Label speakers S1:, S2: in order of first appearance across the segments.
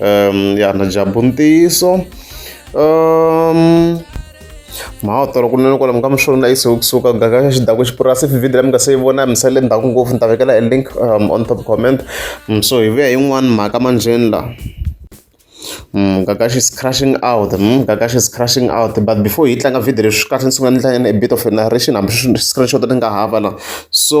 S1: um ya na jabu ntiyiso um mhawu tolo kunene kwala mi nga mi swona na yise kusuka gaka xa xidakwe xipurasi if video la mi nga se yi vona mi sale ndhaku ngopfu ni ta vekela e link um, on top comment um, so hi vuya hi yin'wani mhaka manjheni la Mm, Gagashi is crashing out. Mm, Gagashi is crashing out. But before he tlanga video leswi kahle ni sungula ni hlaya a bit of a narration hambi screenshot ni nga hava la so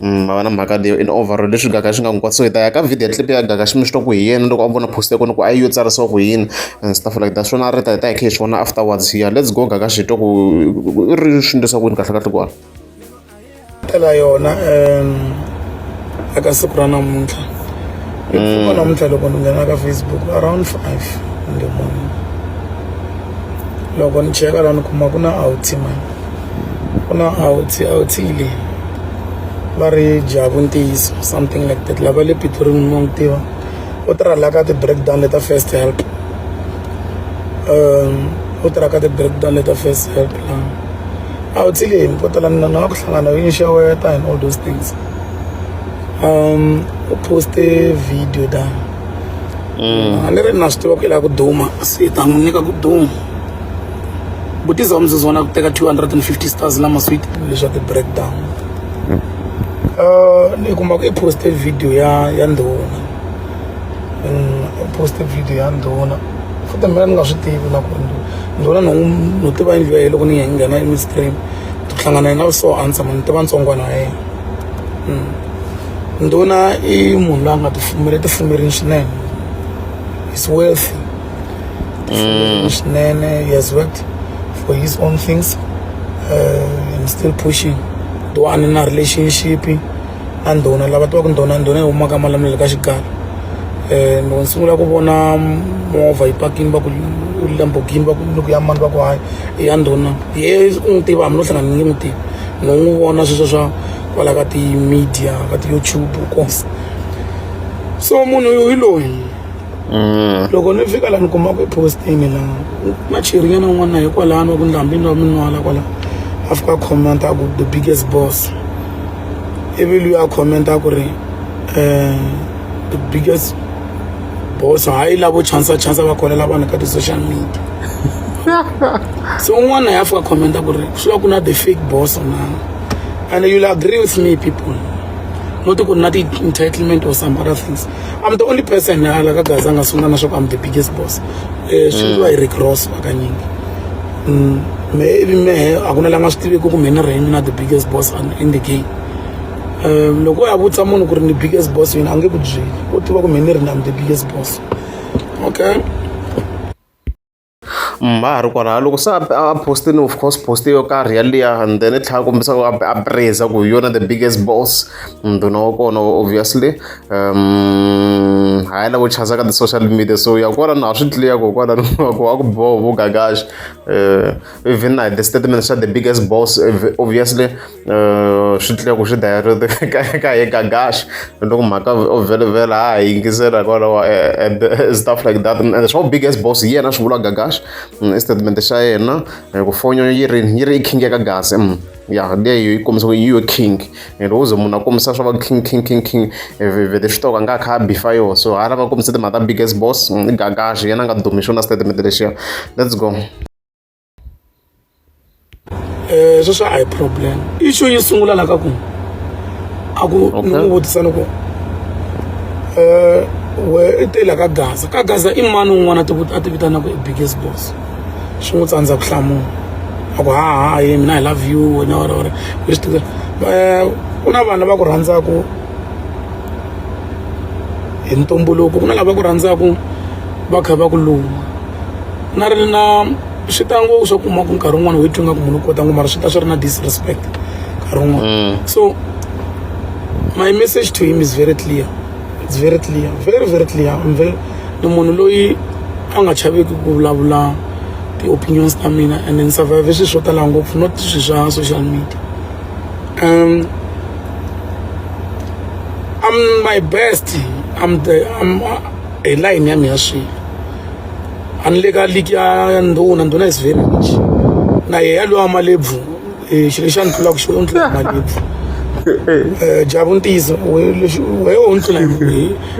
S1: va va na mhaka leyo in overall leswi gaka swi nga n'wi kwatisa so hi ta ya ka video clip ya gaka xi mi swi twa ku hi yena loko a vona post ya kona ku a yi yo tsarisiwa ku yini and stuff like that swona a ri ta hi ta hi kha hi swi vona afterwards here let's go gaka xi twa ku i ri swi ndlisa ku yini kahle kahle kona
S2: tela yona um eka siku ra namuntlha hikuva mm. namuntlha loko ni nghena ka facebook around five in the morning loko ni cheka la ni kuma ku na outima ku na outi outi leyi va ri jabu ntiyiso something like that lava le pitorimi mo n'wi tiva u tirha la ka ti-breakdown leta first help um u tirha ka ti-breakdown leta first help la outi leyi ko tala na na ku hlangana yo inxeweta and all those things um u poste video tani a ni ri na swi tiva ku i lava ku duma se hi ta n'wi nyika ku duma vutiza wa mzuzu vona ku teka 250 stars na masweet leswa ti-breakdown uh, ni kuma ku i poste video ya ya ndhuna mm, i poste video ya ndhuna futhi mina ni nga swi tivi na ku ri ndhuna no no tiva yindlu ya ye loko ni nghena emistream to hlangana na so answer mani tiva ntsongwana ya yena mm. ndhuna i munhu loyi a nga tifumele tifumerini swinene is worthy Mm. Wish Nene he has worked for his own things uh, and still pushing. Though I'm in a relationship and ndona lava tivaka ndona ndona huma ka malamulelo ka xigala eh, and sungula ku vona movha yi pakini va ku lambogini va ku loko ya mani va ku hayi i ya ndona ye u n'wi tiva hambi no hlangana ni n'wi tivi no n'wi vona sweswo swa kwala ka ti-media ka ti-youtube kos so munhu hi loyi mm. loko ni fika la ni kuma ku postini la na chirinyana un'wana hi kwalano wa ku ndlambini wa minwala kwala a fika comment a ku the biggest boss ivi luyi a comment a ku ri um the biggest boss hayi lavo chansa chansa va kholela vanhu ka ti-social media se un'wana ya fika comment a ku ri swi va ku na the fake boss na and you'll agree with me people not ku na ti-entitlement or some other things I'm the only person na la ka Gaza nga sungula na swa ku I'm the biggest boss eh swi mm. hi Rick Ross hakanyingi mm, me ivi mehe a ku na la nga swi tiviki ku mina rhini na the biggest boss in the game um loko ya vutisa munhu ku ri ni biggest boss yini a nge ku byeli u tiva ku mina ri na the biggest boss okay
S1: ha ha ri kwalaho loko se a post-ini of course post yo karhi yaliya and then i tlhela kombisa ku a praise ku hi yona the biggest boss ndhuna wa kona obviously um ha yi lavo chasa ka ti-social media so ya kwala na ha swi tliya ko kwala ku a ku boho vo gagaxi um even na hi the statement xa the biggest boss obviously Uh, swi tlula ku swi daya ka ye ka gash loko mhaka o vhelovhela ha hi yingisela hikwalaho eh, and eh, stuff like that and swa big as boss hi yena swi vula gagash mm, i statement xa yena eh, ku fonyo yi ri yi ri i king ya ka gasi mm, ya leyo yi kombisa ku yi yo king and wo ze munhu a kombisa swa va king king king king vele swi toka nga kha a bifa yo so ha lava kombisa timhaka ta big as boss mm, i gagash yena a nga dumi xona statement lexiya let's go
S2: eh sweswo a hi problem issue yi sungula la ka ku a ku ni n'wi vutisa ni ku um we i te la ka gaza ka gaza i mani un'wana a ti vitana ku i biggest boss swi n'wi tsandza ku hlamula a ku haha ye mina hi love you wena wena wena leswi tiva eh, ku na vanhu lava ku rhandzaka hi ntumbuluko ku na lava ku rhandzaka va kha va ku luma na ri na swi ta ngo swa kuma ku nkarhi wun'wana wethu nga ku munhu u kota ngo mara swi ta swi ri na disrespect nkarhi wun'wana mm. so my message to him is very clear it's very clear very very clear I'm very ni munhu loyi a nga chaveki ku vulavula ti-opinions ta mina and ni survive swilo swo tala ngopfu not swilo swa social media um I'm my best I'm the I'm hi line ya mina swilo a ni le ka ligi ya ndhuna ndhuna is very rich na yehe yaloyi wa malebvu um xilo xa ni tlulaka xo ni tlula malebvu um jabu ntiyiso wehe u ni tlula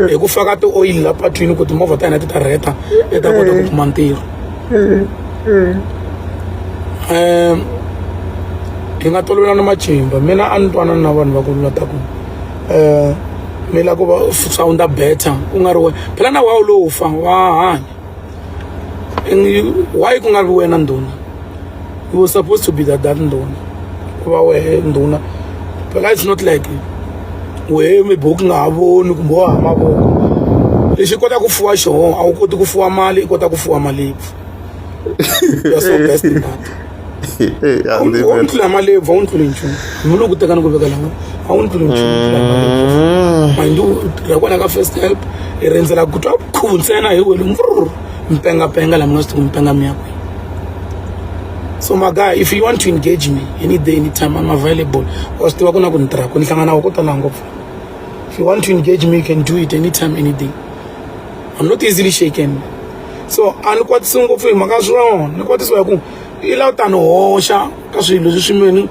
S2: hi ku faka ti-oyili la patwini ku timovha ta hina ti ta rheta ti ta kota ku kuma ntirho um hi nga tolovelana matimba mina a ni twanana na vanhu va ku lula ta ku um ni lava ku va sound better ku nga ri wena phela na wawu lowu fa wa hanya why ku nga ri wena ndhuna you were supposed to be that that ndhuna ku va wehe ndhuna phela it's not like wehe mibuku nga ha voni kumbe wa ha mavoko lexi kotaka ku fuwa xona a wu koti ku fuwa mali i kota ku fuwa mali You're so best in that. Hey, I Awun- live awun it. tlula malebvu awuni tluli nchumu ni vula ku tekana ku veka lama awuni tluli nchumu u tlula malebvu. Mm. mandi u tirha kwala ka first help hi rindzela ku twa khulu ntsena hi wele mvururu mpengapenga la mina swi tiku mpenga miya kwihi so my guy if you want to engage me any day any time i'm available wa swi tiva ku na ku ni tirha ku ni hlangana wa ko tala ngopfu if you want to engage me you can do it anytime any day i'm not easily shaken so a ni kwatisi ngopfu hi mhaka ya swona ni kwatisiwa hi ku i la ta ni hoxa ka swilo leswi swimeni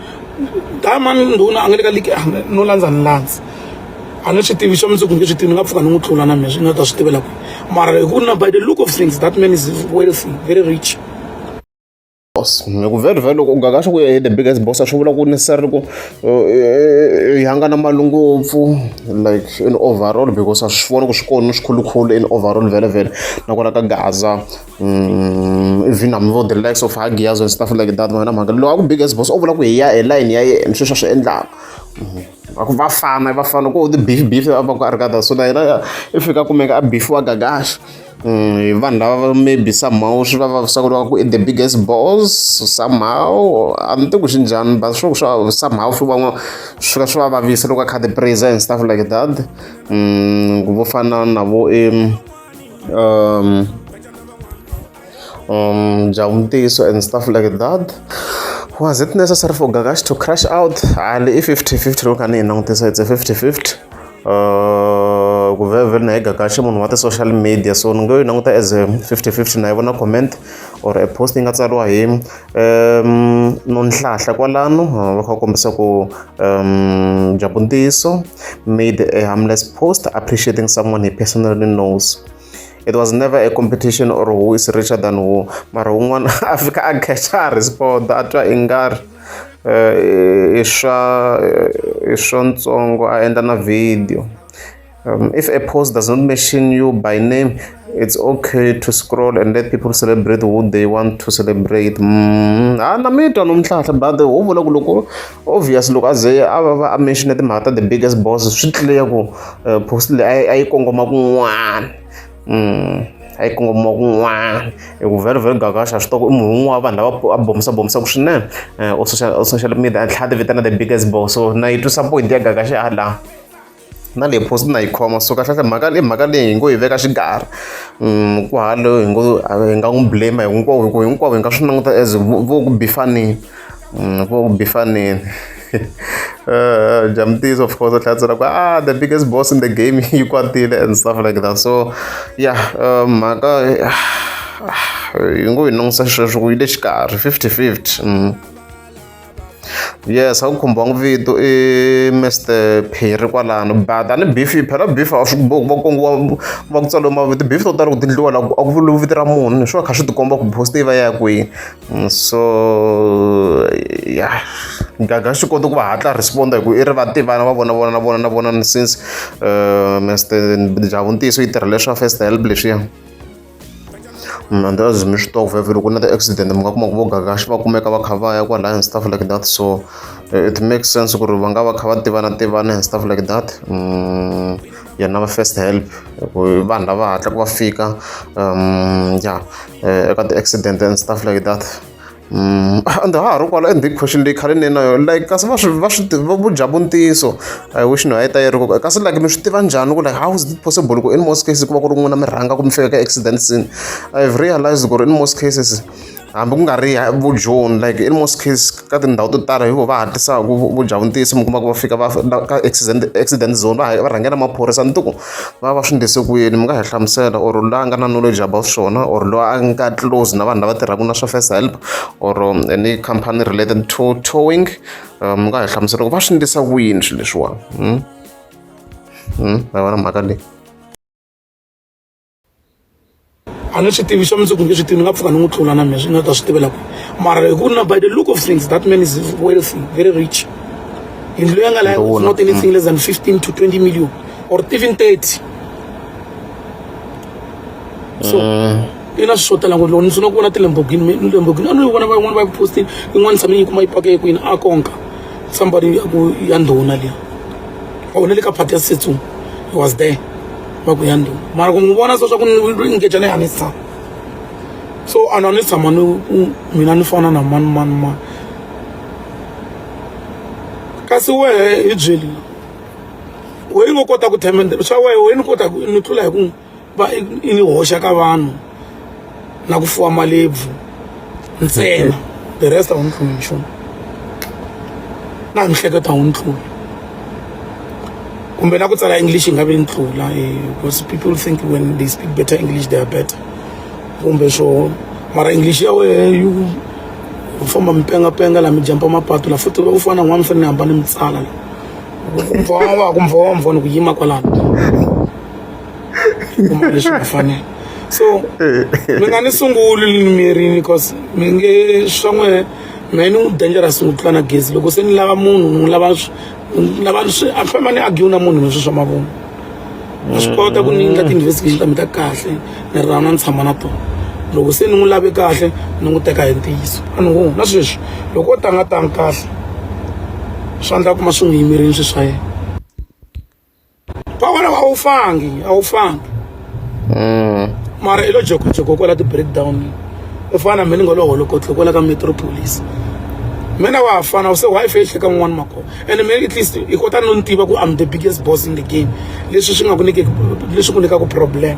S2: diamond ndhuna a nga le ka ligi no landza ni landza a ni swi tivi swa mundzuku nge swi tivi ni nga pfuka ni n'wi tlula na mina swi nga ta swi tivela kwihi mara hi ku na by the look of things that man is wealthy very rich boss loko
S1: very very loko ungaka swa ku ya the biggest boss a swi vula ku necessarily ku yanga na mali ngopfu like in overall because a swi vona ku swi kona swikhulukhulu in overall vele vele nakona ka gaza mm, even hambi vo the likes of hagias and stuff like that vana mhaka lowa ku biggest boss o vula ku hi ya hi line ya yena sweswi a swi endlaka va ku vafana vafana ku the beef beef a va ku a ri ka so na yena i fika kumeka a beefiwa gagaxa Mm, vanhu lava maybe somehow swi va vavisa ku ri va ku i the biggest boss somehow a ni tiku swi njhani but swo swa somehow swi van'wa swi ka swi va vavisa loko a kha the praise and stuff like that mm, vo fana na vo i um um jawuntiso and stuff like that was it necessary for gagash to crash out ali i 50 50 loko a ni yi langutisa it's a 50 50 Uh, ku vhe vhe na hega kahle munhu wa ti-social media so ni ngo yi languta as a fifty fifty na yi vona comment or a post yi nga tsariwa hi um nonhlahla kwalano uh, va kha kombisa ku um dyambu ntiyiso made a harmless post appreciating someone he personally knows it was never a competition or who is richer than who mara wun'wana a fika a catcha a respond a twa i nga ri eh, i swa eh, i swa ntsongo a endla na video um, if a post does not mention you by name it's okay to scroll and let people celebrate who they want to celebrate mm, a na mi twa nomntlhantlha but ho vula ku loko obvious loko a ze a va va a mention timhaka ta the biggest boss swi clear ku eh, post leyi a yi kongoma kun'wana mm, a yi kongoma kun'wana hi ku very very gagaxa swi toko i munhu un'wana vanhu lava a bomisa bomisaka swinene eh, o social media a tlhela a ti vitana the biggest boss so na yi twisa point ya gagaxa ya laha na leyi phosi na yi khoma so kahlekahle mhaka leyi mhaka leyi hi ngo yi veka xikarhi um ku halo hi ngo hi nga n'wi blame hinkwavo hi ku hinkwavo hi nga swi languta as vo ku bifanile um vo ku bifanile uh, Jamtis, of course, that's like, ah, the biggest boss in the game, you got it, and stuff like that. So, yeah, um, mhaka hi ngo yi nongisa xisweswo ku yi le xikarhi 50 50 um yes a ku khumbiwanga vito i mr phiri kwalano but a ni beef yi phela beef a swi bohi ku va kongiwa va ku tsaliwe mavito beef to tala ku tindliwa la a ku vuriwi vito ra munhu swi va kha swi tikomba ku post yi va ya kwini mm, so ya gaga swi kota ku va hatla responda hi ku i ri va tivana va vona vona na vona na vona since eh, mr javu ntiyiso yi tirha leswa first help leswiya Mm, and as mi swi tova vhele ku na ti-accident mi nga kuma ku vo gagaxi va kumeka va kha va ya kwalaya and stuff like that so eh, it makes sense ku ri va nga va kha va tivana tivana and stuff like that mm, yena va first help vanhu lava hatla ku va fika um ya eh, eka ti-accident and stuff like that And ha ha ri kwala and big question leyi khale ni ri na yona like kasi va swi va swi tiva vu dya vu ntiyiso I wish no a yi ta yi ri kona kasi like mi swi tiva njhani ku like how is it possible ku in most cases ku va ku ri n'wina mi rhanga ku mi fika ka accident scene I have realized ku ri in most cases hambi ku nga ri vu joni like in most cases ka tindhawu to tala hi vo va hatlisaka vu dya vu ntiyiso mi kuma ku va fika va ka accident accident zone va va rhangela maphorisa ni ti ku. va va swi endlise ku yini mi nga hi hlamusela or la nga na knowledge about swona or loyi a nga close na vanhu lava tirhaka na swa first help or um, any company related to towing um, mi nga hi hlamusela ku va swi endlisa ku yini swilo leswiwani hmm? hmm? va vona mhaka leyi
S2: a ni swi tivi swa mundzuku nge swi tivi ni nga pfuka ni n'wi tlula na mina swi nga ta swi tivela ku mara hi ku na by the look of things that man is wealthy very rich yindlu leyi a nga laya is not anything less than 15 to 20 million or even 30 so i na swi swo tala ngopfu loko ni swi na ku vona tilembogini lembogini a no yi vona va yin'wana va yi postile yin'wana tshame yi kuma yi pake kwini a konka somebody ya ku ya ndhuna liya a wona le ka phati ya setsong he was there va ku ya ndhuma mara ku n'wi vona so swa ku ni ngecane a ni si tshama so a ni a ni si tshama ni ku mina ni fana na mani mani mani kasi wehe hi byeli wehe yi ngo kota ku themendela swa wehe wehe ni kota ku ni tlula hi ku va i ni hoxa ka vanhu na ku fuwa malebvu ntsena the rest a wu ni tluli nchumu na miehleketo a wu ni tluli kumbe na ku tsala english yi nga vi ni tlula eh, because people think when they speak better english they are better kumbe swo mara english ya wehe yi u famba mi pengapenga la mi jampa mapatu la futi u fana n'wana mi fanele ni hamba ni mi tsala la ku mvongo wa ku mvongo ni ku yima kwalano kuma leswi nga fanela so mi nga ni sunguli limirini because mi nge swa n'we mehe ni n'wi dangerous n'wi tlula na gezi loko se ni lava munhu ni n'wi lava lava swi a famba ni agiwu na munhu leswi swa mavunwa a swi kota ku ni endla mm. ti-investigation ta mi ta kahle ni ri rana ni tshama na tona loko se ni n'wi lave kahle ni n'wi teka hi ntiyiso a ni ngo na sweswi loko o tanga tangi kahle swa ndla kuma swi n'wi yimerini swi swa yena kwalaho a wu fangi a wu fangi mm. mara i lo jokojoko kwala ti-breakdown u fana na mina ni nga lo holokotlo kwala ka metropolis mina wa ha fana u se wife yi hleka n'wana makona and mina at least i kota no ni tiva ku i'm the biggest boss in the game leswi swi nga ku nyikeki leswi ku nyikaku problem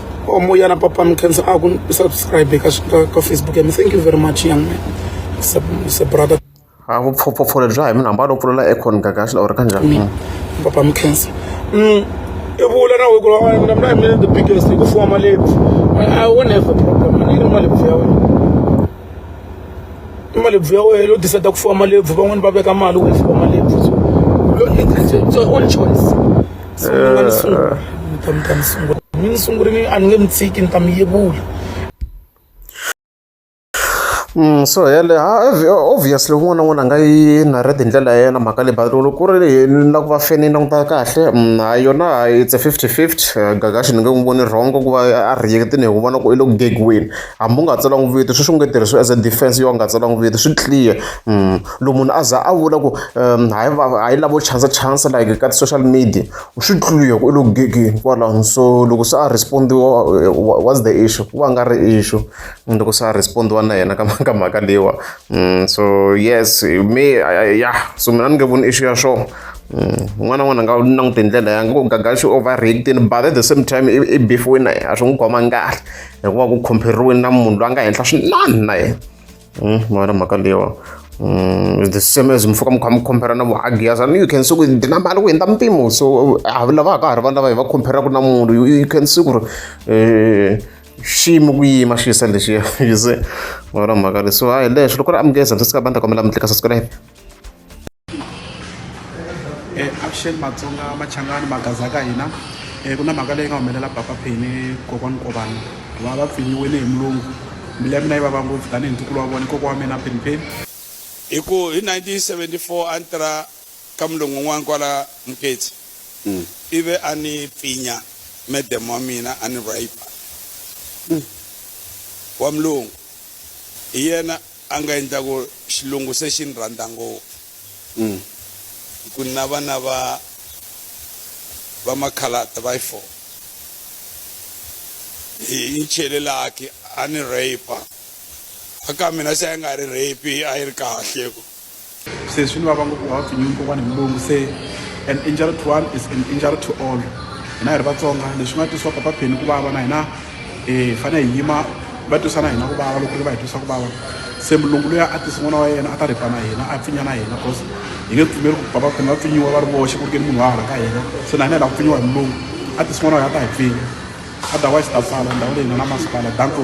S2: omoya na papa mi khensa a ku subscribe ka ka facebook ya mi thank you very much young man se brother a vupfhopfhopfhole
S1: bya hi munhu hamba lo pfulela econ gagaxi or ka njhani mm. papa mi khensa
S2: mm. i vula na weku na mina mina the biggest hi ku fuwa malebvu i won't have a problem anini malebvu ya wena i malebvu ya wena u decide ku fuwa malebvu van'wani va veka mali u fuwa malebvu so it's your own choice Mm,
S1: so yale obviously un'wana na un'wana a nga yi narrate hi ndlela ya yena mhaka leyi but loko ku ri na ku va feni yi languta kahle hayi mm, yona hayi it's a fifty fifty eh, gagaxi ni nge n'wi voni wrong ku va a rejectini hi ku vona ku i lo gegiwini hambi u nga tsala n'wi vito sweswi u nge tirhisiwi as a defense yo a nga tsala n'wi vito swi clear mm. loko munhu a za a vula ku um hayi hayi lavo chansa chansa like ka ti-social media u swi tlulile ku u lo gegeni kwalaho so loko se a respondiwa what's the issue ku va nga ri issue mm, loko se a respondiwa na yena ka ka mhaka leyiwa mm, so yes me ya so mina ni nge voni issue ya swona n'wana mm, n'wana nga langute ndlela ya ngo gaga xi overreactini but at the same time i beefiwini na yena a swi n'wi khomanga kahle hikuva ku compare-riweni na munhu loyi a nga henhla swinani na yena Hmm, mwana mhaka leyiwa Mm, the same as mufuka mi kha mi compare na muhagiya sani you can see ku ndzi na mali ku hundza mpimo so a lava ka ha ri vanhu lava hi va compare-aku na munhu you can see ku ri um xiyimo ku yima xi yisa lexiya you see mara mhaka leyi so hayi leswi loko ri amukeza ndzi sika bandza kombela mi tlika subscribe
S3: eh, avuxeni matsonga machangani magaza ka hina um ku na mhaka leyi nga humelela papa pheni kokwani kovani va va pfinyiwile hi mulungu mbilu ya mina yi vava ngopfu tanihi ntukulu wa vona koko wa mina pheni pheni hi ku hi 1974 a ni tirha ka mulungu un'wana kwala muketsi mm. ivi a ni pfinya medem wa mina a ni rape mm. wa mulungu hi yena A nga endla ku xilungu se xi ni rhandza ngopfu hi ku ni na vana va va makhaladi va yi four hi yi chele lucky a ni rape a ka mina se a yi nga ri rape a yi ri kahle ku. se swi ni vava ngopfu wa pfinyiwi kokwana hi mulungu se an injury to one is an injury to all hina hi ri vatsonga leswi nga twisiwa papa pheni ku vava na hina hi eh, fanele hi yima va twisana hina ku vava loko ri va hi twisa ku vava se mulungu loyi a tisi n'wana wa yena a ta ripa na hina a pfinya na hina cause hi nge pfumeli ku papa pheni va pfinyiwa va ri voxe ku ri ke ni munhu wa hala ka hina se na hina hi lava ku pfinyiwa hi mulungu a tisi n'wana wa yena a ta hi pfinya otherwise ta pfala ndhawu leyi nga na masipala danko